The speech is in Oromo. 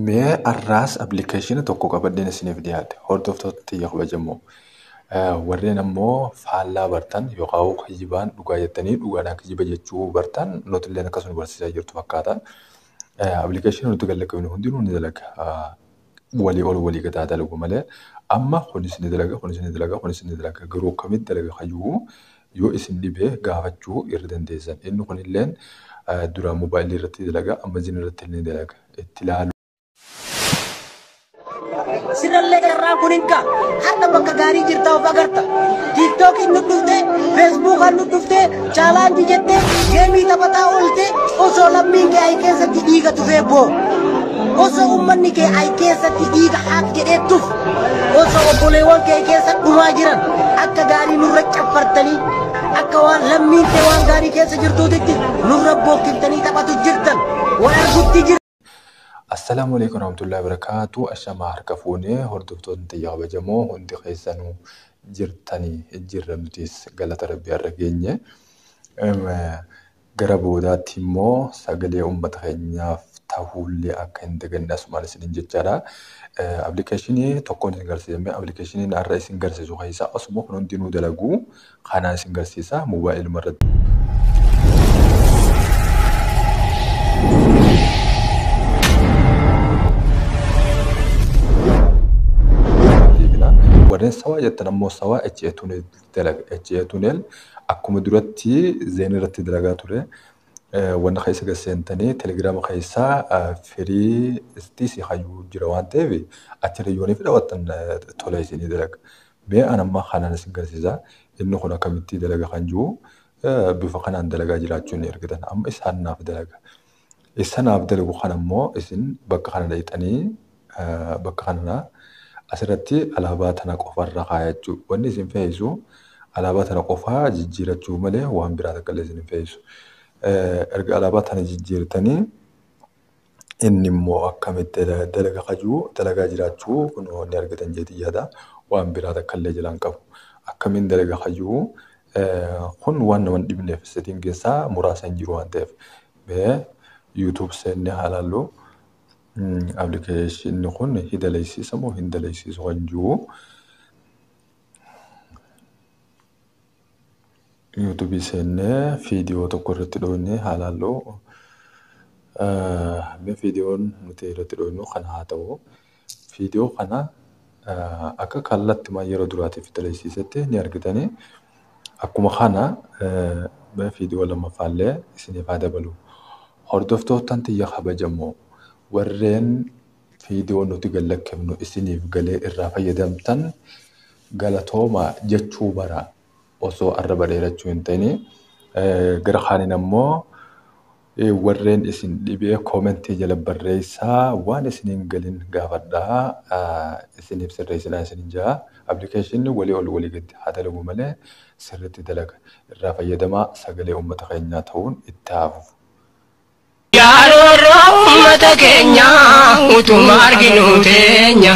Mee har'aas appilikeeshinii tokko qabadheen isiniif dhiyaadhe. Hordoftoota tiyya kabajamoo. Warreen ammoo faallaa bartan yookaan hoo kijibaan dhugaa jettanii dhugaadhaan kijiba jechuu bartan nuti illee akkas nu barsiisaa jirtu fakkaata. Appilikeeshinii nuti gad lakkifnu hundinuu ni dalaga. Walii ol walii gad haa dalagu malee amma kunis ni dalaga kunis ni dalaga kunis ni dalaga garuu akkamitti dalaga kayyuu Yoo isin dhibe gaafachuu irra dandeessan. Inni kunilleen duraan mobaayilii irratti dalaga, amma zin irratti illee ni dalaga. Itti laaluu. Sirrallee carraan kun hin ga'a. Har'a bakka gaarii jirta of agarta. Tiiktookiin nu dhufte, Feesbuukaan nu dhufte, chaalaanjii jette, geemii taphataa oolte, osoo lammiin kee ayi keessatti dhiiga tufee boo. Osoo uummanni kee ayi keessatti dhiiga haaf jedhee tuf. Osoo obboleewwan kee keessa dhumaa jiran akka gaarii nurra caffartanii akka waan lammiin kee waan gaarii keessa jirtuutitti nurra bookkiftanii taphatu jirtan wal argutti jirtan. Assalaamu alaikum warahmatullahi wabarakatuh. Ashama harka fuune hordoftoonni tiyya kabajamoo hundi keessanuu jirtanii jirra nutis galata rabbii har'a geenye. Gara boodaatti immoo sagalee uummata keenyaaf tahuullee akka hin daganne asumaan isiniin jechaadha. Appilikeeshinii tokkoon isin garsiifame. Appilikeeshiniin har'a isin garsiisu keessaa osuma kun hundinuu dalagu kanaan isin garsiisa moobaayiluma irratti. Warreen sawaa jettan ammoo sawaa HA2 dalaga HA tunnel akkuma duratti zeen irratti dalagaa ture wanna keessa gad seentanii telegiraama keessaa firii istii si hayyuu jira waan ta'eef achirra yoonii fi daawwattan tola isinii dalaga. Mee an amma kanaan isin garsiisa inni kun akkamitti dalaga kan jiru bifa kanaan dalagaa jiraachuu ni argitan amma isaan naaf dalaga. Issa naaf dalagu kana immoo isin bakka kana dhayxanii bakka kanarraa asirratti alaabaa tana qofa irra kaayachuu. Wanni isin feesisu alaabaa tana qofa jijjiirachuu malee waan biraa takka illee isin hin feesisu. Erga alaabaa tana jijjiirtanii inni immoo akkamitti dalaga kajuu dalagaa jiraachuu kunoo ni argitan jeetii yaada waan biraa takka illee jala hin qabu. Akkamiin dalaga kajuu Kun waan nama hin dhibneef setting keessaa muraasa hin jiru waan ta'eef. Mee YouTube seenne haa laallu. Application kun ni daleessiisa moo hin daleessiisu kan jiru. YouTube seenne viidiyoo tokko irratti dhooyne haa laallu. Mee viidiyoon nuti irratti dhooynu kan haa ta'u. Viidiyoo kana akka kallattimaan yeroo duraatiif daleessiisetti ni argitani. Akkuma kana viidiyoo lammaffaallee isiniif haa dabalu. Hordoftoottan tiyya kabajamoo warreen viidiyoo nuti gad lakkifnu isiniif galee irraa fayyadamtan galatoomaa jechuu bara osoo arraba dheerachuu hin ta'ini. Gara kaaniin ammoo Warreen isin dhibe comment jala barreessaa waan isin hin galin gaafadhaa isiniif sirreessinaa isinin jedha. Application walii ol walii gad haa dalagu malee sirriitti dalaga. Irraa fayyadamaa sagalee uummata keenyaa ta'uun itti haa fufu. Yaa roorroo uummata keenya utuma arginuu teenya